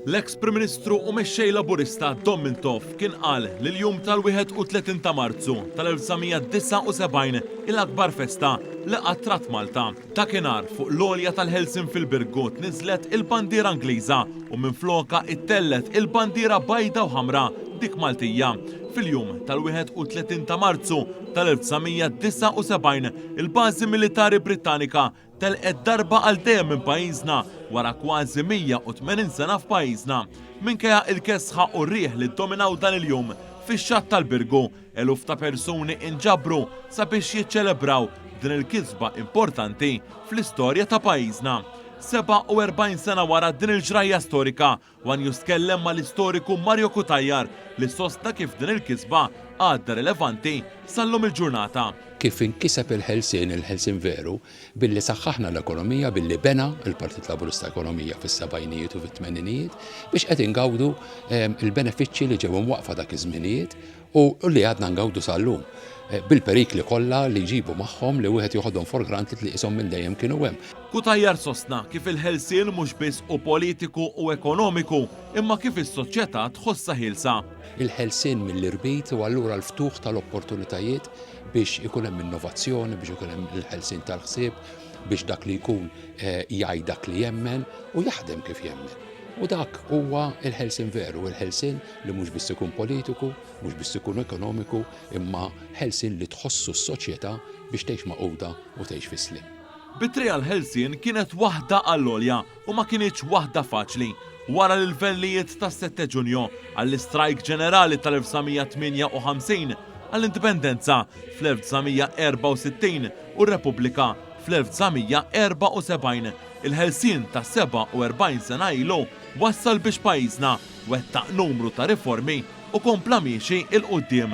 L-eks Prim Ministru u Mexxej Laburista Dom Mintoff kien qal li l-jum tal-31 ta' Marzu tal-1979 hi l-akbar festa li qatt rat Malta. Dakinhar fuq l-għolja tal-ħelsien fil-Birgu tniżżlet il-bandiera Ingliża u minflokha ittellgħet il-bandiera bajda u ħamra, dik Maltija. Fil-jum tal-31 ta' Marzu tal-1979, Il-bażi militari Brittanika telqet darba għal dejjem minn pajjiżna wara kważi 180 sena f'pajjiżna. Minkejja il-kesħa u r-riħ li ddominaw dan il-jum, fix-xatt tal-Birgu eluf ta' persuni inġabru sabiex jiċċelebraw din il-kisba importanti fl-istorja ta' pajjiżna. 47 sena wara din il-ġrajja storika, One News tkellem mal-istoriku Mario Cutajar li sostna kif din il-kisba għadha rilevanti sal-lum il-ġurnata. Kif inkiseb il-ħelsien, il-ħelsien veru, billi saħħaħna l-ekonomija, billi bena l-Partit Laburista ekonomija fis-sebgħinijiet u fit-tmeninijiet, biex qed ingawdu l-benefiċċji li ġew imwaqqfa dak iż-żminijiet. u li għadna ngawdu sal-lum, bil-perikli kollha li jġibu magħhom li wieħed joħodhom for granted li qishom minn dejjem kienu hemm. Cutajar sostna kif il-ħelsien mhux biss hu politiku u ekonomiku imma kif is-soċjetà tħossha ħielsa. Il-ħelsien mill-irbit hu allura l-ftuħ tal-opportunitajiet biex ikun hemm innovazzjoni, biex ikun hemm il-ħelsien tal-ħsieb, biex dak li jkun jgħid dak li jemmen u jaħdem kif jemmen. U dak huwa l-ħelsien veru, il-ħelsien li mhux biss ikun politiku, mhux biss ikun ekonomiku, imma ħelsien li tħossu s-soċjetà biex tgħix magħquda u tgħix fis-sliem. Bitri għall-ħelsien kienet waħda għall-għolja u ma kinitx waħda faċli. Wara l-ilvellijiet tas-Sette Ġunju, għall-istrajk ġenerali tal-1958, għall-Indipendenza fl-1964 u r-Repubblika fl-1974, il-ħelsien ta' 47 sena ilu wassal biex pajjiżna, wettaq numru ta' riformi u kompla miexi 'l quddiem.